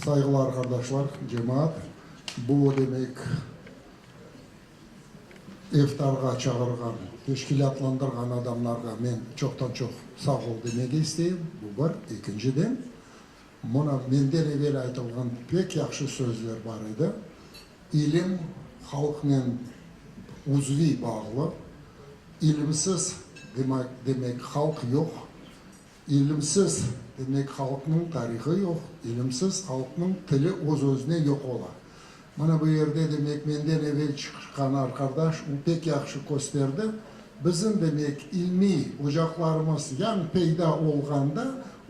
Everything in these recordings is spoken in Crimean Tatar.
Sayğılar qardaşlar, cemaat. Bu o demek, iftarğa çağırğan, teşkilâtlandırğan adamlarğa men çoqtan-çoq sağ ol demege isteyim, bu bir. Ekinciden, mına menden evel aytılğan pek yahşı sözler bar edi. İlim halqnen uzviy bağlı. İlimsiz, demak, demek halq yoq. İlimsiz, demek, halqnıñ tarihı yoq, ilimsiz halqnıñ tili öz-özüne yoq ola. Mana bu yerde, demek, menden evel çıqqan arqardaş u pek yahşı kösterdi, bizim, demek, ilmiy ocaqlarımız yañ peyda olğanda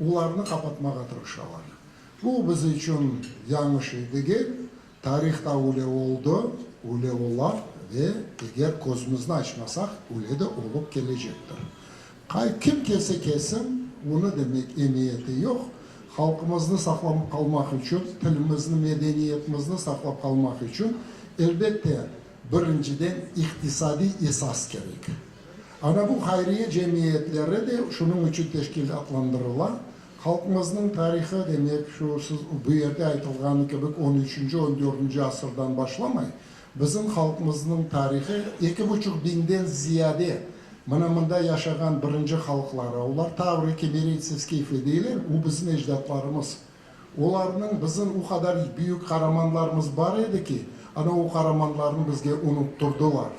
olarnı qapatmağa tırışalar. Bu biz içün yañış ey degil, Tarihta üle oldı, üle ola ve eger közümizni açmasaq, üle de olıp kelecektir. Qay kim kelse kesin, onı demek emiyeti yoq, halqımıznı saqlanıp qalmaq içün, tilimizni, medeniyetimizni saqlap qalmaq içün, elbette, birinciden iqtisadiy esas kerek. Ana bu hayriye cemiyetleri de şunıñ içün teşkilâtlandırıla, Halqımıznıñ tarihı demek, şu siz bu yerde aytılğanı kibik on üçünci, on dördünci asırdan başlamay, bizim halqımıznıñ tarihı eki buçuq biñden ziyade mına mında yaşağan birinci halqlara, olar tavri, kemeritsi, skifli deyler, u bizim ecdatlarımız. Olarnıñ bizim u qadar büyük qaramanlarımız bar edi ki, ana o qaramanlarnı bizge unuttırdılar.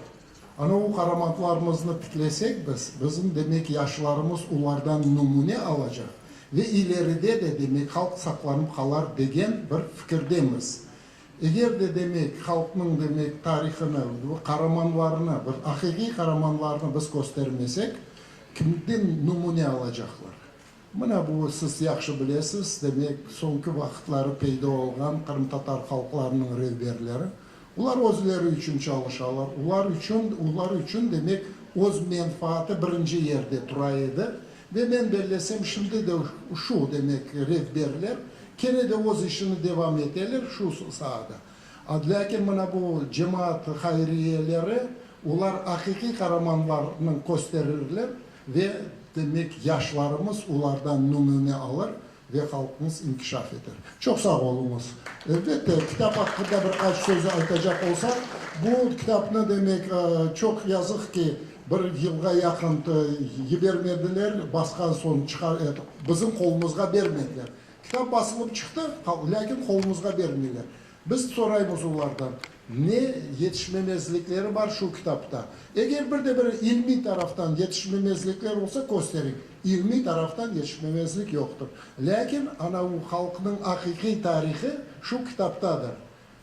Ana o qaramantlarımıznı tiklesek biz, bizim demek yaşlarımız olardan numune alacaq ve ileride de demek halq saqlanıp qalar degen bir fikirdemiz. Eger de demek halqnıñ demek tarihını, qaramanlarını, bir aqiqiy qaramanlarını biz köstermesek, kimden numune alacaqlar? Mına bu, siz yahşı bilesiz, demek, soñki vaqıtları peyda olğan qırımtatar halqlarınıñ revberleri. Olar özleri içün çalışalar. Olar içün, olar içün, demek, öz menfaati birinci yerde tura edi. Ve men bellesem, şimdi de şu, demek, revberler kene de öz işini devam eteler şu saada. Lâkin mına bu cemaat hayriyeleri, olar aqiqiy qaramanlarnı kösterirler. Ve, demek, yaşlarımız olardan nümüne alır ve halqımız inkişaf eter. Çoq sağ oluñız. Elbette, kitap aqqında bir qaç söz aytacaq olsam, bu kitapnı, demek, çoq yazıq ki, bir yılğa yaqın yibermediler, basqan soñ çıqar etip, bizim qolumızğa bermediler. Kitap basılıp çıqtı, lâkin qolumızğa bermeyler. Biz soraymız olardan, ne yetişmemezlikleri bar şu kitapta? Eger bir de bir ilmiy taraftan yetişmemezlikler olsa, kösteriñ. İlmiy taraftan yetişmemezlik yoqtır. Lâkin ana u halqnıñ aqiqiy tarihi şu kitaptadır.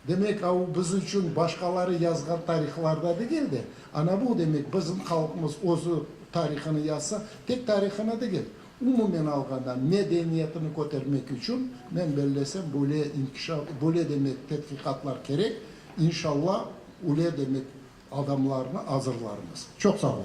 Demek, a u biz içün başqaları yazğan tarihlarda degil de, ana bu, demek, bizim halqımız özü tarihını yazsa, tek tarihını degil, Umumen alğanda, medeniyetini kötermek içün, men bellesem, böyle inkişa, böyle demek tedqiqatlar kerek, inşalla, üle demek adamlarnı azırlarmız. Çoq sağ olun.